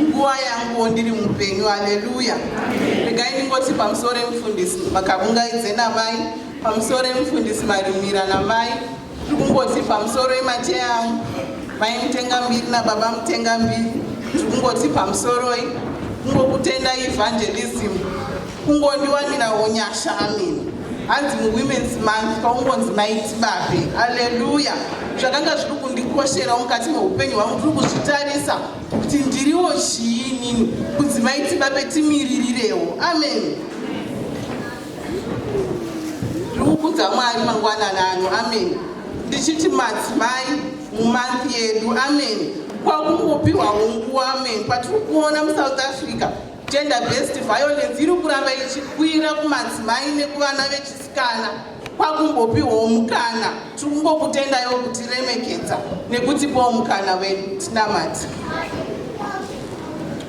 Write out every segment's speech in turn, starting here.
nguva yanguwo ndiri mupenyu aleluya regai ndingoti pamusoro emufundisi makavungaidze namai pamusoro emufundisi marimira namai tiri kungoti pamusoro emateya angu mai mutenga mbiri nababa mutenga mbiri tiri kungoti pamusoroi kungokutenda evangelism kungondiwanira unyasha amini hanzi muwomens month kwaungonzi maiti babe aleluya zvakanga zviri kundikosherawo mukati meupenyu hwangu tiri kuzvitarisa kuti ndiriwo chii inini kudzimai tibape timiririrewo amen ndikukudza mwari mangwanana ano amen ndichiti madzimai mumanthi yedu amen kwakungopiwawo nguva amen patiri kuona musouth africa gender based violence iri kuramba ichikwira kumadzimai nekuvana vechisikana kwakumbopiwawo mukana tiri kungokutendaiwo kutiremekedza nekutipawo mukana vedu tinamati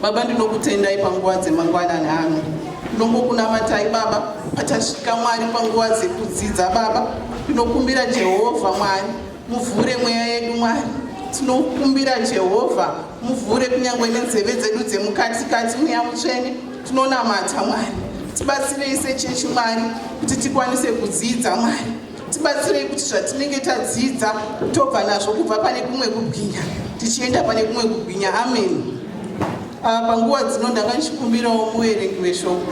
baba ndinokutendai panguva dzemangwanani ano ndongokunamatai baba patasvika mwari panguva dzekudzidza baba ndinokumbira jehovha mwari Muvhure mweya yedu Mwari, tinokumbira Jehovha, muvhure kunyange nenzeve dzedu dzemukati kati mweya mutsvene, tinonamata Mwari. Tibatsirei sechechi Mwari kuti tikwanise kudzidza Mwari. Tibatsirei kuti zvatinenge tadzidza tobva nazvo kubva pane kumwe kubwinya tichienda pane kumwe kubwinya. Ameni. Ah, panguva dzino ndanga ndichikumbirawo muverengi weshoko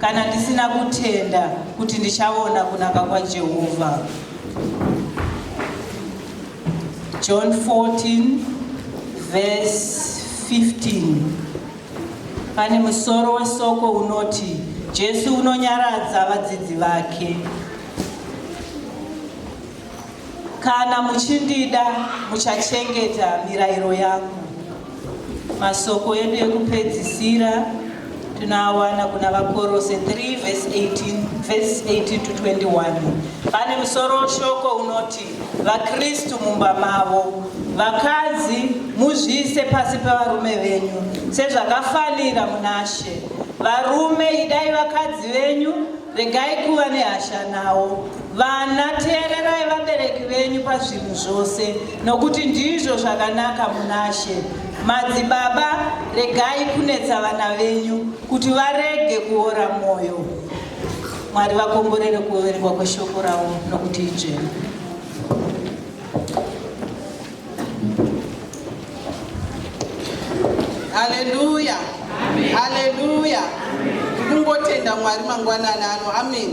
kana ndisina kutenda kuti ndichaona kunaka kwaJehovha. John 14 verse 15 pane musoro wesoko unoti Jesu unonyaradza vadzidzi vake. Kana muchindida muchachengeta mirayiro yangu. Masoko edu ekupedzisira tinoawana kuna Vakorose 3 verse 18, verse 18 to 21. Pane musoro weshoko unoti vaKristu mumba mavo, vakadzi muzviise pasi pevarume venyu sezvakafanira munashe. Varume idai vakadzi venyu Regai kuva nehasha nawo. Vana, teererai vabereki venyu pazvinhu zvose, nokuti ndizvo zvakanaka munashe. Madzibaba, regai kunetsa vana venyu kuti varege kuora mwoyo. Mwari vakomborere kuverengwa kweshoko ravo nokuti idzvene. Haleluya. Haleluya. Ndikungotenda Mwari mangwanani ano. Amen.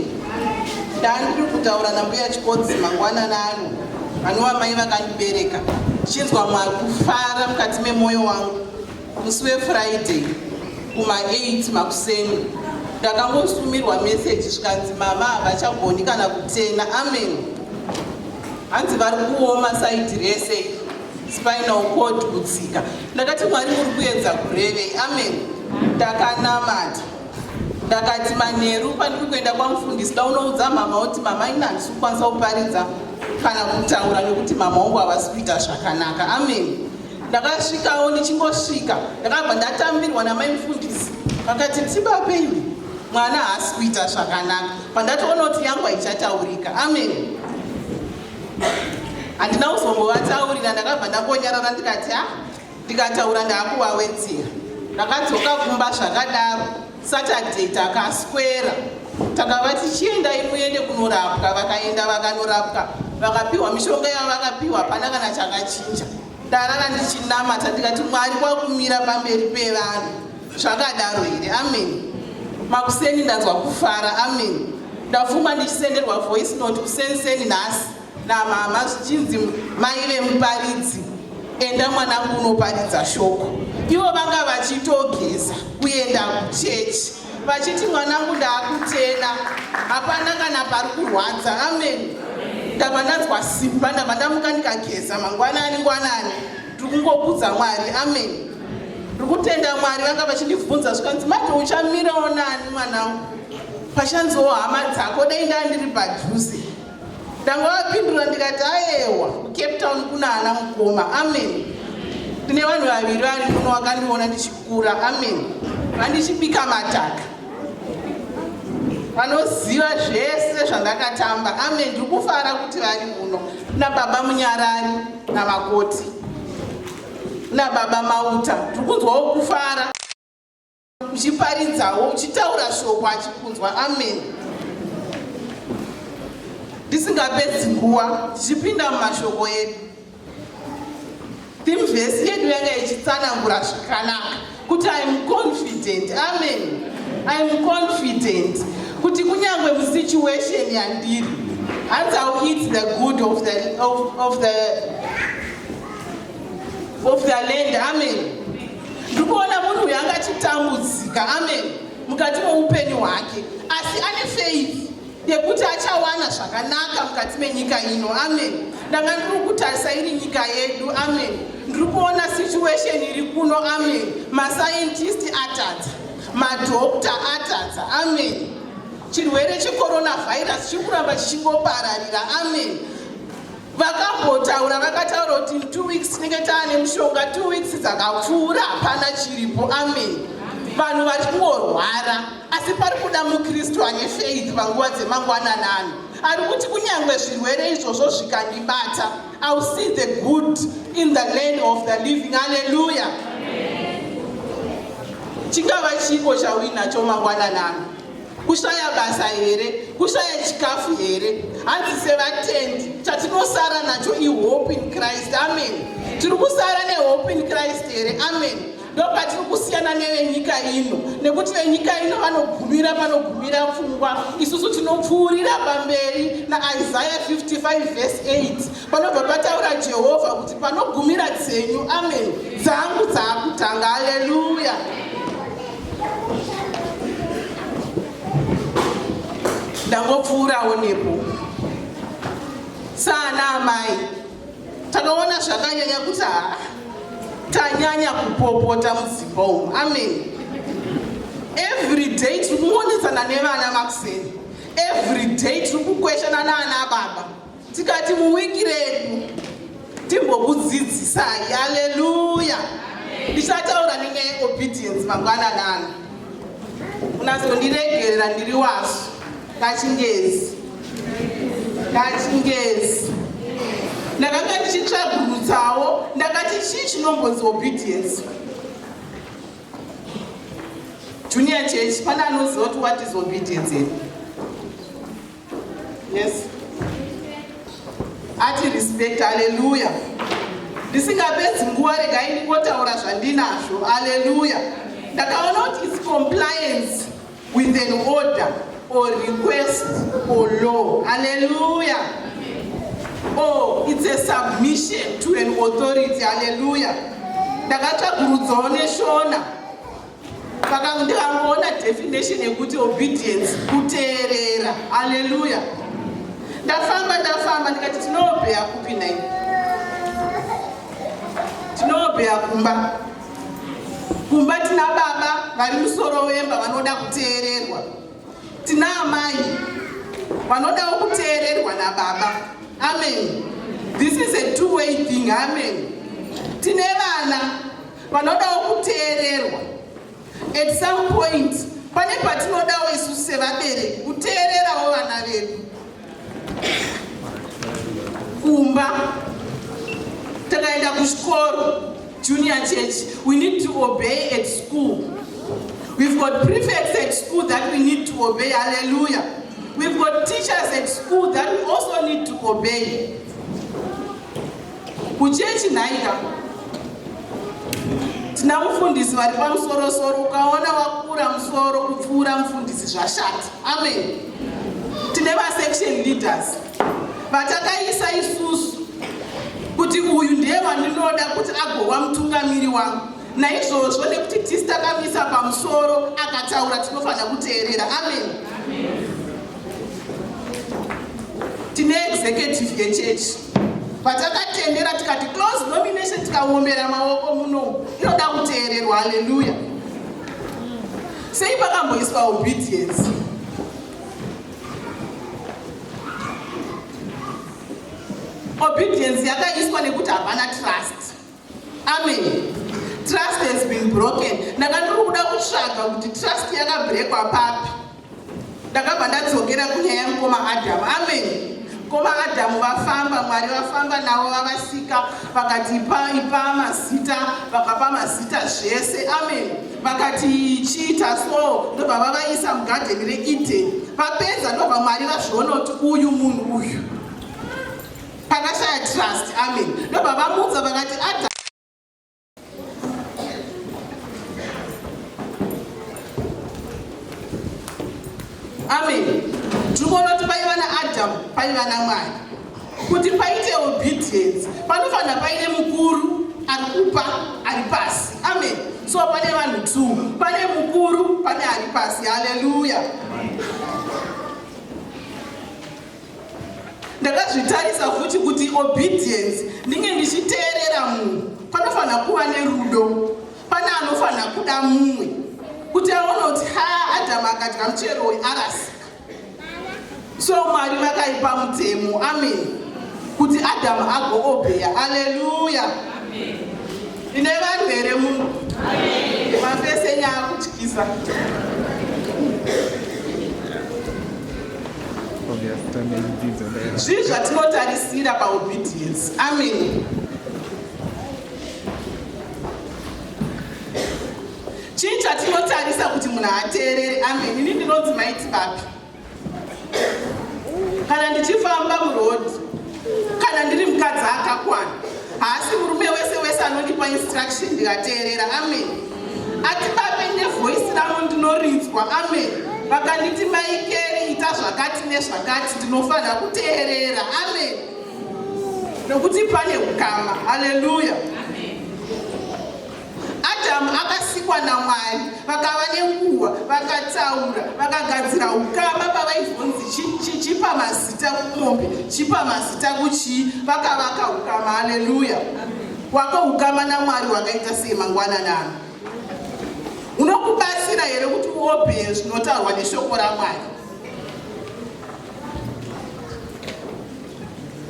Ndandiri kutaura nambuya Chikodzi mangwanani ano. Vanova mai vakandibereka. Chinzwa Mwari kufara mukati memoyo wangu. Musi weFriday kuma 8 makuseni ndakangosumirwa message zvikanzi mama havachagoni kana kutena amen hanzi vari kuoma saidi rese spinal cord kutsika ndakati mwari muri kuedza kurevei amen ndakanamata ndakati manheru pandiri kuenda kwamufundisi daunoudza mama kuti mama ini handisi kukwanisa kuparidza kana kutaura nekuti mama wangu havasi kuita zvakanaka amen ndakasvikawo ndichingosvika ndakabva ndatambirwa namai mufundisi vakati tsimba peni mwana haasi kuita zvakanaka pandatoona kuti yangu haichataurika ameni handina kuzongowataurira ndakabva ndakonyarara ndikati ha ndikataura ndaakuvawedzera ndakadzoka kumba zvakadaro Saturday takaswera takava tichiendai muende kunorapwa vakaenda vakanorapwa vakapiwa mishonga yavo vakapiwa hapana kana chakachinja ndarara ndichinamata ndikati mwari kwakumira pamberi pevanhu zvakadaro here amen makuseni ndanzwa kufara amen ndafuma ndichisenderwa voice note kusenseni nhasi namama zvichinzi mai vemuparidzi enda mwanangu unoparidza shoko ivo vanga vachitogeza kuenda kuchechi vachiti mwanangu ndaakutena hapana kana pari kurwadza amen ndava ndanzwa simba ndava ndamuka ndikageza mangwanani ngwanani ndiri kungokudza mwari amen ndiri kutenda mwari vanga vachindibvunza zvikanzi mati uchamirawo nani mwanangu pachanziwo hama dzako dai ndandiri padhuze ndangavapindura ndikati ayewa kucape town kuna ana mukoma amen tine vanhu vaviri vari muno vakandiona ndichikura amen vandichibika mataka vanoziva zvese zvandakatamba amen ndiri kufara kuti vari muno kuna baba munyarari namakoti kuna baba mauta ndiri kunzwawo kufara uchiparidzawo uchitaura shoko achikunzwa amen ndisingapedzi nguva tichipinda mumashoko edu thimvhesi yedu yanga ichitsanangura zvakanaka kuti iam confident amen iam confident kuti kunyange musituation yandiri hanzi iw eat the good of the, of, of the, of the land amen ndikuona munhu uyo anga achitambudzika amen mukati moupenyu hwake asi ane faith yekuti achawana zvakanaka mukati menyika ino amen ndanga ndiri kutarisa iri nyika yedu amen ndiri kuona situation iri kuno amen mascientist atadza madokta atadza amen chirwere checoronavirus chikuramba chichingopararira amen vakambotaura vakataura kuti two weeks tinenge taane mushonga two weeks dzakapfuura hapana chiripo amen vanhu vari kungorwara asi pari kuda mukristu ane faith panguva dzemangwananano ari kuti kunyange zvirwere izvozvo zvikandibata ill see the good in the land of the living alleluya chingava chiko chauinacho mangwananano kushaya basa here kushaya chikafu here hanzi sevatendi chatinosara nacho ihope in christ amen tiri kusara nehope in christ here amen ndopatiri kusiyana nevenyika ino nekuti venyika ino vanogumira panogumira pfungwa isusu tinopfuurira pamberi naisaya 55 vese 8 panobva pataura jehovha kuti panogumira dzenyu amen dzangu dzaakutanga aleluya ndangopfuurawo nepo saana amai takaona zvakanyanya kuti haa tanyanya kupopota mudzimba umu amen every day tiri kuonetsana nevana makuseni every day tiri kukweshana naana baba tikati muwiki redu timbokudzidzisai aleluya ndichataura nenyaya yeobedience mangwananana unazondiregerera ndiri wasu kachingezi kachingezi ndakanga ndichitsvagurutsawo ndakati chii chinombonzi obedience junior church pane anoziva kuti what is obedience yes ati respect haleluya ndisingapedzi nguva regai ndingotaura zvandinazvo haleluya ndakaona kuti its compliance with an order or request or law haleluya or its a submission to an authority haleluya ndakatsvagurudzawo neshona Saka ndikangoona definition yekuti obedience, kuteerera. Haleluya. Ndafamba ndafamba ndikati tinobheya kupi nai? Tinobheya kumba. Kumba tina baba vari musoro wemba vanoda kuteererwa. Tina amai vanodawo kuteererwa nababa. Amen. This is a two way thing. Amen. Tine vana Panodawo kuteererwa. At some point pane patinodawo isu sevabereki kuteererawo vana vedu. Kumba takaenda kuchikoro junior church we need to obey at school we've got prefects at school that we need to obey hallelujah We've got teachers at school that we also need to obey. Kuchechi nhaika tina mufundisi vari pamusoro soro, ukaona wakura musoro kupfuura mufundisi zvashati. Amen. Tine vasection leaders vatakaisa isusu kuti uyu ndiye wandinoda kuti agova mutungamiri wangu naizvozvo nekuti tisi takamisa pamusoro akataura tinofanira kuteerera amen tine executive yechechi patakatendera tikati close nomination tikaombera maoko muno inoda kuteererwa haleluya sei pakamboiswa obedience obedience yakaiswa nekuti hapana trust Amen. Trust has been broken. Ndanga ndiri kuda kutsvaga kuti trust yakabrekwa papi. Ndakabva ndadzokera kunyaya yamukoma Adamu. Amen. Mukoma Adamu vafamba, Mwari vafamba navo vavasika, vakati ipa mazita, vakapa mazita zvese. Amen. Vakati chiita so, ndobva vavaisa mugadheni reEden. Vapedza ndobva Mwari vazviona kuti uyu munhu uyu. Pakashaya trust, amen. Ndobva vamudza vakati ada Amen. Tiri kuona kuti paiva naAdam, paiva naMwari. Kuti paite obedience, panofanira paine mukuru ari kupa ari pasi. Amen. So pane vanhu two, pane mukuru, pane ari pasi. Hallelujah. ndakazvitarisa futi kuti obedience ndinge ndichiteerera munhu panofanira kuva nerudo pane anofanira kuda mumwe kuti aone kuti ha adamu akadya muchero uyu arasika so mwari vakaipa mutemo amen kuti adamu agoobeya aleluya ine vanhu here munhu mafese nyaya kutyisa zvii zvatinotarisira paobedience ameni chii chatinotarisa kuti munhu ateerere ameni ini ndinonzi maiti vapi kana ndichifamba murodi Kana ndiri mukadzi akakwana, haasi murume wese wese anondipa instruction ndikateerera. Amen. Ati babe nevoice rangu ndinorinzwa. Amen. Vakanditi maikeri ita zvakati nezvakati ndinofanira kuteerera. Amen. Nokuti pane ukama. Hallelujah. Adhamu akasikwa naMwari, vakava nenguva, vakataura, vakagadzira ukama pavaizonzi chichipa mazita kumombe, chipa mazita kuchii, vakavaka ukama. Haleluya! Wako ukama naMwari wakaita sei mangwana nano? Unokubatsira here kuti uobheye zvinotaurwa neshoko raMwari?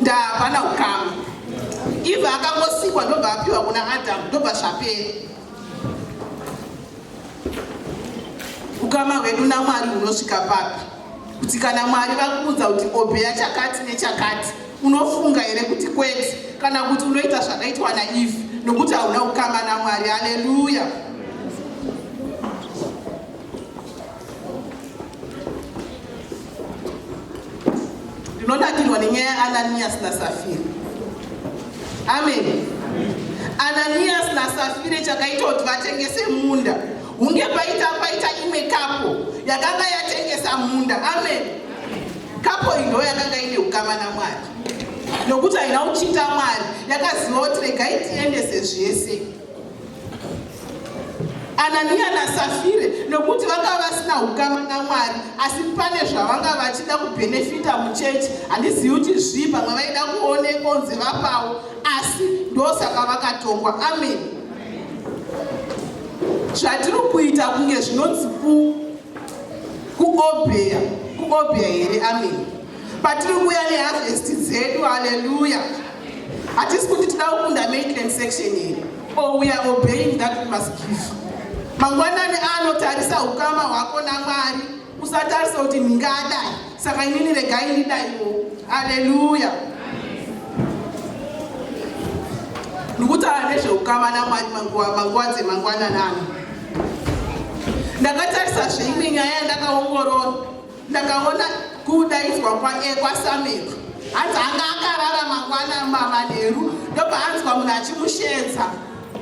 ndaa hapana hukama iva akangosikwa ndobva apiwa kuna adamu ndobva zvapera ukama hwedu namwari hunosvika papi kuti kana mwari vakuudza kuti obeya chakati nechakati unofunga here kuti kwete kana kuti unoita zvakaitwa naive nokuti hauna ukama namwari haleluya ndinonakirwa nenyaya yaananiyasi nasafira amen ananiyasi nasafira chakaita kuti vatengese munda hunge paita paita imwe kapo yakanga yatengesa munda amen kapo iyi ndo yakanga ine ukama namwari nokuti haina kuchinda mwari yakaziva kuti regai tiendese zvese ananiya nasafire nokuti vanga vasina ukama namwari asi pane zvavanga vachida kubhenefita muchechi handizivi kuti zvii pamwe vaida kuoneka onzi vapawo asi ndosaka vakatongwa amen zvatiri kuita kunge zvinonzi kuobheya kuobheya here amen patiri kuuya neharvest dzedu haleluya hatisi kuti tida kukunda maitland section here or oh, we are obeying that we must give mangwanani ano tarisa ukama hwako namwari usatarisa kuti ndingadai saka inini regai ndidaiwo haleluya ndikutaura nezveukama namwari manguva dzemangwanani ano ndakatarisa zveimwe nyaya yandakaongorora ndakaona kudaidzwa kwae kwasamero hanzi anga akarara mangwana mamanheru ndopaanzwa munhu achimushedza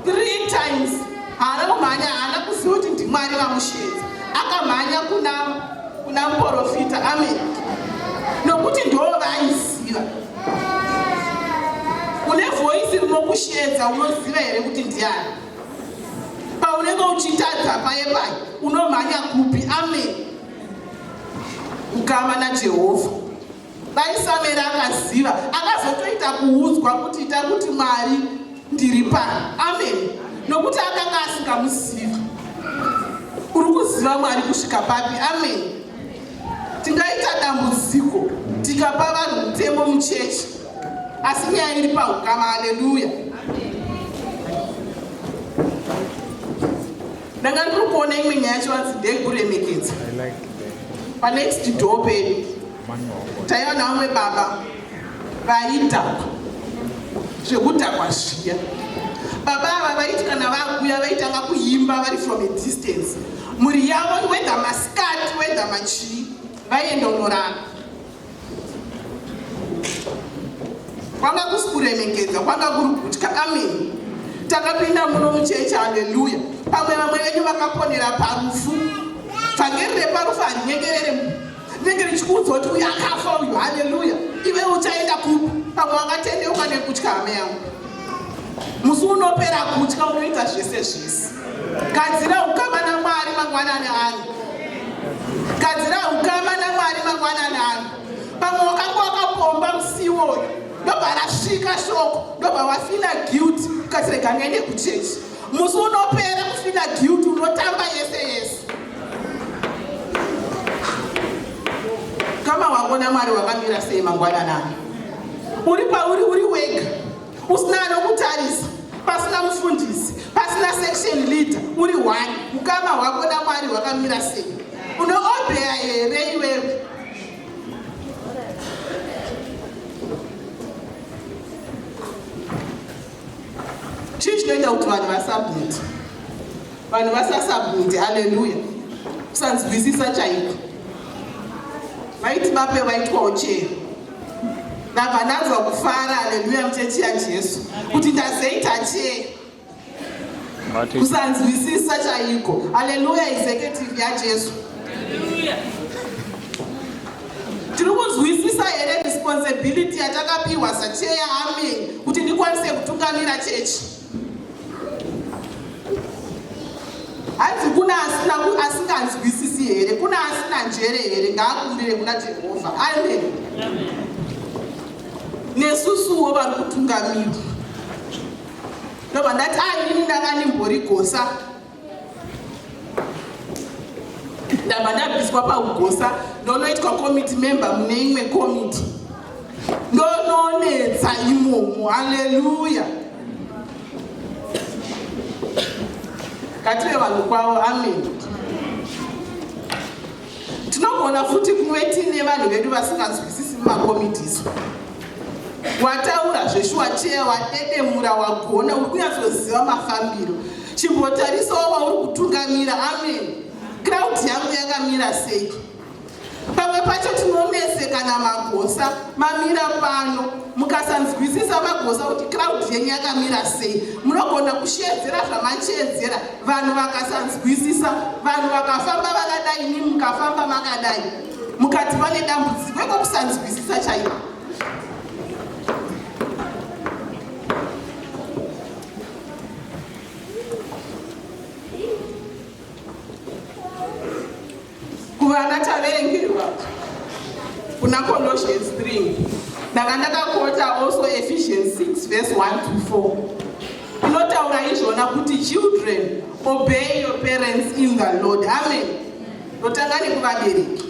three times haana kumhanya haana kuziva kuti ndimwari vamushedza akamhanya kuna kuna muporofita amen nokuti ndoo vaiziva une voisi rinokushedza unoziva here kuti ndiani paunenge uchitadza paye paye unomhanya kupi amen ukama najehovha dai samera akaziva akazotoita kuudzwa kuti ita kuti mwari ndiri pano amen nokuti akanga asingamuziva uri kuziva mwari kusvika papi amen tingaita dambudziko tikapa vanhu mutemo muchechi asi nyaya iri paukama aleluya ndanga ndiri kuona imwe nyaya yachivanzi ndekuremekedza panext door pedu taiva navamwe baba vaidhakwa zvekudhakwa zviya baba ava vaiti kana vakuya vaitanga kuimba vari from a distance mhuri yavo wedha maskati wedha machii vaienda unorara kwanga kusi kuremekedza kwanga kuri kutya ameni takapinda muno muchechi haleluya pamwe vamwe venyu vakaponera parufu vhangeri reparufu harinyengerere rinenge richikuudzwa kuti uyo akafa uyu haleluya ive uchaenda kupi pamwe wangatendeuka nekutya hame yangu musi unopera kutya unoita zvese zvese gadzira ukama namwari mangwanani ano gadzira ukama namwari mangwanani ano pamwe wakanga wakapomba musi uwoyo ndobva rasvika shoko ndobva wafina guilt ukasirega ngaende kuchechi musi unopera kufina guilt unotamba yese yese kama wako namwari wakamira sei mangwanani ano uri pauri uri wega usina anokutarisa pasina mufundisi pasina section leader uri one ukama hwako namwari hwakamira sei unoobheya here iwewe chii chinoita kuti vanhu vasabhuti vanhu vasasabhuti aleluya kusanzwisisa chaiko vaiti bape vaitwawo chero ndabva ndanzwa kufara haleluya muchechi yajesu kuti ndazeita chee kusanzwisisa chaiko haleluya izeketivi yajesu tiri kunzwisisa here responsibility yatakapiwa sacheya amen kuti ndikwanise kutungamira chechi hanzi kuna asina asinganzwisisi here kuna asina njere here ngaakumbire kuna jehovha amen nesusuwo vari kutungamirwa ndobva ndati ainini ndanga ndimbori gosa ndabva ndabviswa paugosa ndonoitwa committee member mune imwe committee ndononetsa imomo haleluya kative vanhu kwavo amen tinogona futi kuve tiine vanhu vedu vasinganzwisisi mumakomitiso wataura zveshuwa cheya wadedemura wagona uri kunyatsoziva mafambiro chimbotarisawo vauri kutungamira amen crowd yangu yakamira sei pamwe pacho tinonesekana magosa mamira pano mukasanzwisisa magosa kuti crowd yenyu yakamira sei munogona kushedzera zvamachedzera vanhu vakasanzwisisa vanhu vakafamba vakadai imi mukafamba makadai mukati vane dambudziko ekokusanzwisisa chaiko kuvana taverengerwa kuna colossians 3 ndanga ndakakota also ephesians 6 verse 1 to 4 inotaura izvona kuti children obey your parents in the lord amen Ndotanga nekuvabereki.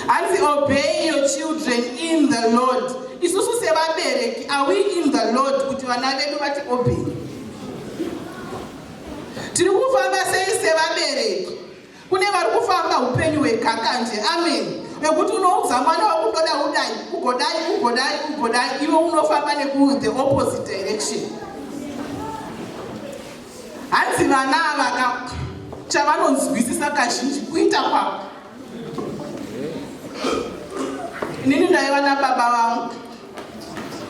Hanzi obey your children in the Lord. Isusu sevabereki are we in the Lord kuti vana vedu vati obey? Tiri kufamba sei sevabereki? Kune vari kufamba upenyu hwekakanje. Amen. Vekuti unoudza mwana wakundoda udai, ugodai, ugodai, ugodai, iwe unofamba neku the opposite direction. Hanzi vana ava ka chavanonzwisisa kazhinji kuita kwavo. Inini ndaiva nababa vangu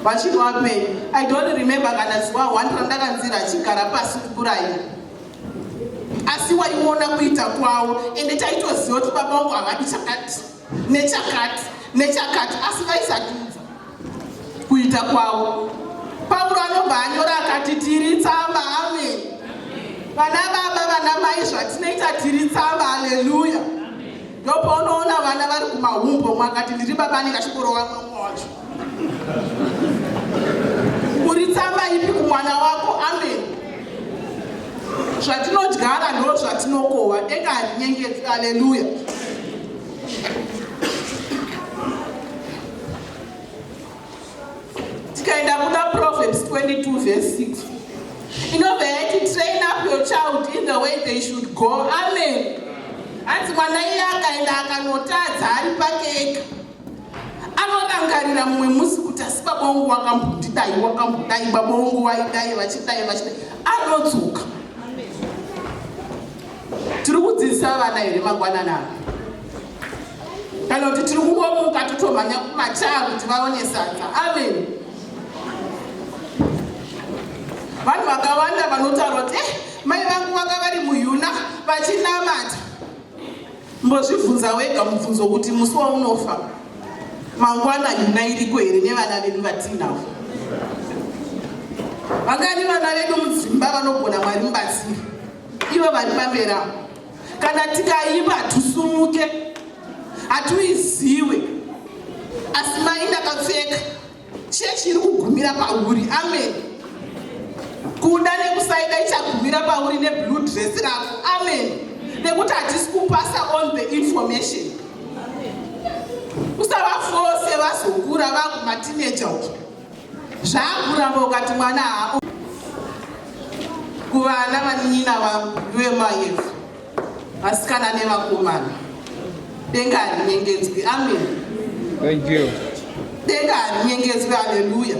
vachiri vapenyu. I don't remember kana zuva one randakanzira achigara pasi kukuraya. Asi waiona kuita kwavo ende taitoziva kuti baba vangu havadi chakati. nechakati nechakati asi vaisatunza kuita kwavo pauro anobva anyora akati tiri tsamba amen vana baba vana mai zvatinoita tiri tsamba haleluya ndopaunoona vana vari kumahumbo mwakati ndiri baba anenge achiborova mwamwe wacho Uri tsamba ipi kumwana wako? Amen. Zvatinodyara ndo zvatinokohwa, denga harinyengedzi. Haleluya. Tikaenda kuna Proverbs 22 verse 6 inobva yati train up your child in the way they should go. Amen. Hanzi mwana iye akaenda akanotadza ari pake ega anorangarira mumwe musi kuti asi baba wangu wakambondidai wakambodai baba wangu vaidai vachidai vachidai anodzoka tiri kudzidzisa vana here mangwanana kana kuti tiri kungomuka totomhanya kumachaa kuti vaone sadza amen vanhu vakawanda vanotaura kuti eh, mai vangu vanga vari muyuna vachinamata Mbozvibvunza wega mubvunzo kuti musi waunofa mangwana nyuna iriko here nevana vedu vatiinavo? Vangani vana vedu mudzimba vanogona Mwari mubatsiri ivo vari pambera? Kana tikaimba hatusumuke, hatuiziwe asi mai ndakapfeka Chechi iri kugumira pauri. Amen. Kuda nekusaida ichagumira pauri neblue dress rako. Amen. Nekuti hatisi kupasa on the information. Usavafose vazokura vakumatineja uko. Zvakuramba ukati mwana hako. Kuvana vanina vangu vemayefu. vasikana nevakomana denga harinyengedzwi amen thank you denga harinyengedzwi haleluya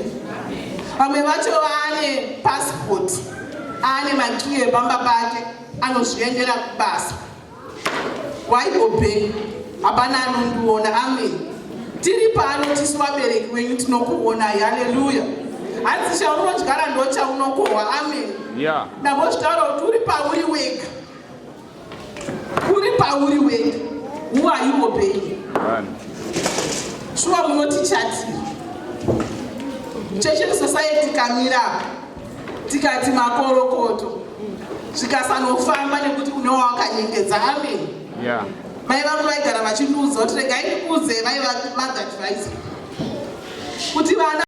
vamwe vacho vaane passport aane makiyi epamba pake anozviendera kubasa waiobhei hapana anondiona amen tiri pano tisu vabereki wenyu tinokuonai haleluya hanzi chaunodyara ndochaunokohwa amen yeah. ndambozvitaura kuti uri pauri wega uri pauri wega who are you obeying shuwa munoti chati church society kamira tikati makorokoto zvikasanofamba nekuti une wawakanyengedza amen yeah mai vangu vaigara vachindiudza kuti regai ndikuudze vaiva magadvise kuti vana